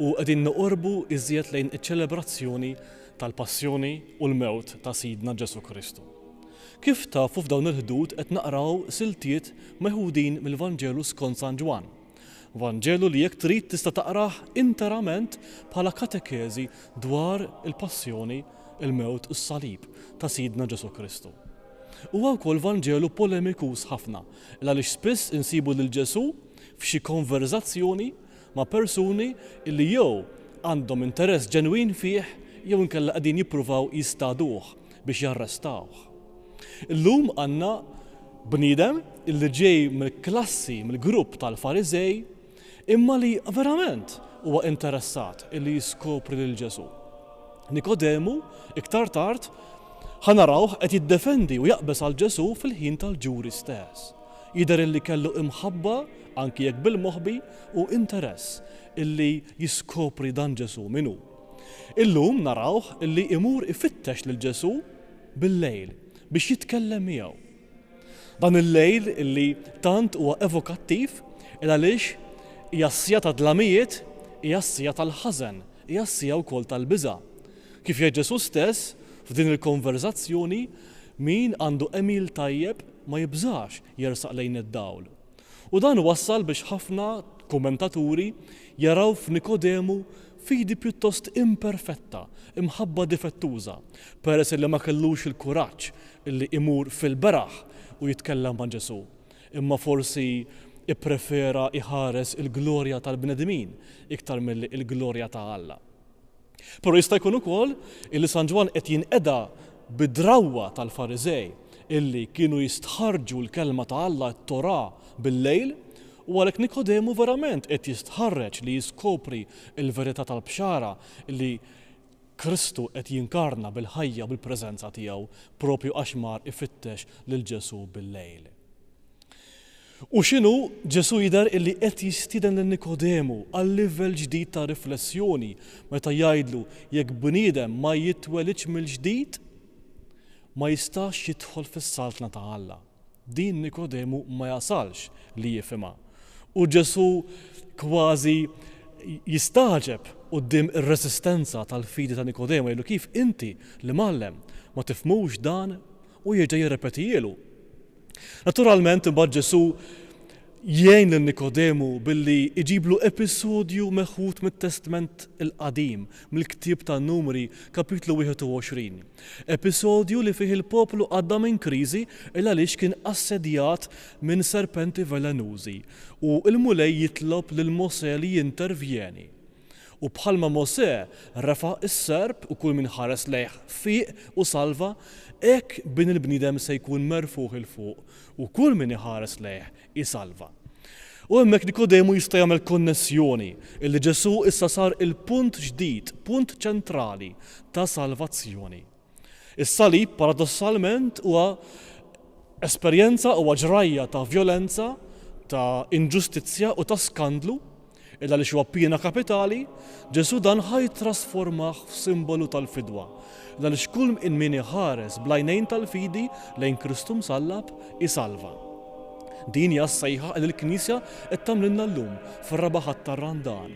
u qegħdin noqorbu iżjed lejn iċ-ċelebrazzjoni tal-Passjoni u l-Mewt ta' Sidna Ġesù Kristu. Kif tafu f'dawn il-ħdud qed naqraw siltiet meħudin mill-Vanġelu skont San Ġwann. Vanġelu li jekk trid tista' taqrah interament bħala katekeżi dwar il-Passjoni, il-Mewt u s-Salib ta' Sidna Ġesù Kristu. Huwa wkoll Vanġelu polemikuż ħafna, il-għaliex spiss insibu lil Ġesù f'xi konverżazzjoni ma' persuni li jew għandhom interess ġenwin fih jew inkella qegħdin jippruvaw jistagħduh biex jarrestawh. Illum għandna bniedem li ġej mill-klassi, mill-grupp tal-Fariżej, imma li verament huwa interessat li jiskopri lil Ġesù. Nikodemu, iktar tard, ħa narawh qed jiddefendi u jaqbeż għal Ġesù fil-ħin tal-ġuri stess. Jidher illi kellu imħabba, anki jekk bil-moħbi, u interess illi jiskopri dan Ġesù min hu. Illum narawh illi imur ifittex lil Ġesù bil-lejl biex jitkellem miegħu. Dan il-lejl illi tant huwa evokattiv il għaliex hija s-siegħa tad-dlamijiet, hija s-siegħa tal-ħażen, hija s-siegħa wkoll tal-biża'. Kif jgħid Ġesù stess f'din il-konverżazzjoni, min għandu għemil tajjeb, ma jibżax jersaq lejn id-dawl. U dan wassal biex ħafna kummentaturi jaraw f'Nikodemu fidi pjuttost imperfetta, imħabba difettuża, peress li ma kellux il-kuraġġ li imur fil-beraħ u jitkellem ma' Ġesù, imma forsi pprefera jħares il-glorja tal-bnedmin iktar milli l-glorja ta' Alla. Però jista' jkun ukoll illi San Ġwann qed jinqeda bid-drawwa tal-Fariżej illi kienu jistħarrġu l-Kelma ta' Alla, it-Torà, bil-lejl, u għalhekk Nikodemu verament qed jistħarreġ li jiskopri l-verità tal-Bxara li Kristu qed jinkarna bil-ħajja u bil-preżenza tiegħu proprju għax mar ifittex lil Ġesù bil-lejl. U x'inhu? Ġesù jidher illi qed jistieden lil Nikodemu għal livell ġdid ta' riflessjoni meta jgħidlu jekk bniedem ma jitwelidx mill-ġdid ma jistax jidħol fis-Saltna ta' Alla. Din Nikodemu ma jasalx li jifhimha. U Ġesù kważi jistagħġeb quddiem ir-resistenza tal-fidi ta' Nikodemu jgħidlu kif inti, l-Imgħallem, ma tifhmux dan u jerġa' jirrepetihielu Naturalment, imbagħad Ġesù jgħin lil Nikodemu billi jġiblu episodju meħud mit-Testment il-Qadim, mill-ktieb tan-Numri, Kapitlu 21. Episodju li fih il-poplu għadda minn kriżi il-għaliex kien assedjat minn serpenti velenużi u l-Mulej jitlob lil Mosè li jintervjeni. U bħalma Mosè refa' s-serp u kull min ħares lejh fieq u salva, hekk Bin il-bniedem se jkun merfugħ 'il fuq u kull min iħares lejh isalva. U hemmhekk Nikodemu jista' jagħmel konnessjoni, illi Ġesù issa sar il-punt ġdid, punt ċentrali ta' salvazzjoni. Is-salib, paradossalment, huwa esperjenza, huwa ġrajja ta' vjolenza, ta' inġustizzja u ta' skandlu, illa għaliex huwa piena kapitali, Ġesù dan ħa jittrasformah f'simbolu tal-fidwa, illa għaliex kull min iħares bl-għajnejn tal-fidi lejn Kristu msallab isalva. Din hija s-sejħa li l-Knisja qed tagħmlilna llum fir-raba' Ħadd tar-Randan.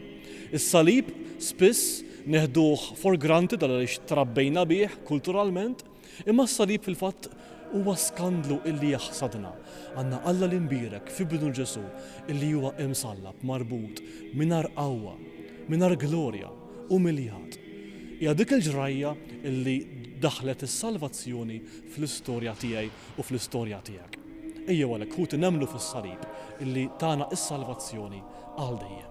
Is-salib spiss Neħduh for granted għaliex trabbejna bih kulturalment, imma s-salib fil-fatt huwa skandlu illi jaħsadna. Għandna Alla li nbierek f'Ibnu Ġesù illi huwa imsallab, marbut, mingħajr qawwa, mingħajr glorja, umiljat. Hija dik il-ġrajja illi daħħlet is-salvazzjoni fl-istorja tiegħi u fl-istorja tiegħek. Ejjew għalhekk, ħuti, nemmnu fis-salib illi tana s-salvazzjoni għal dejjem.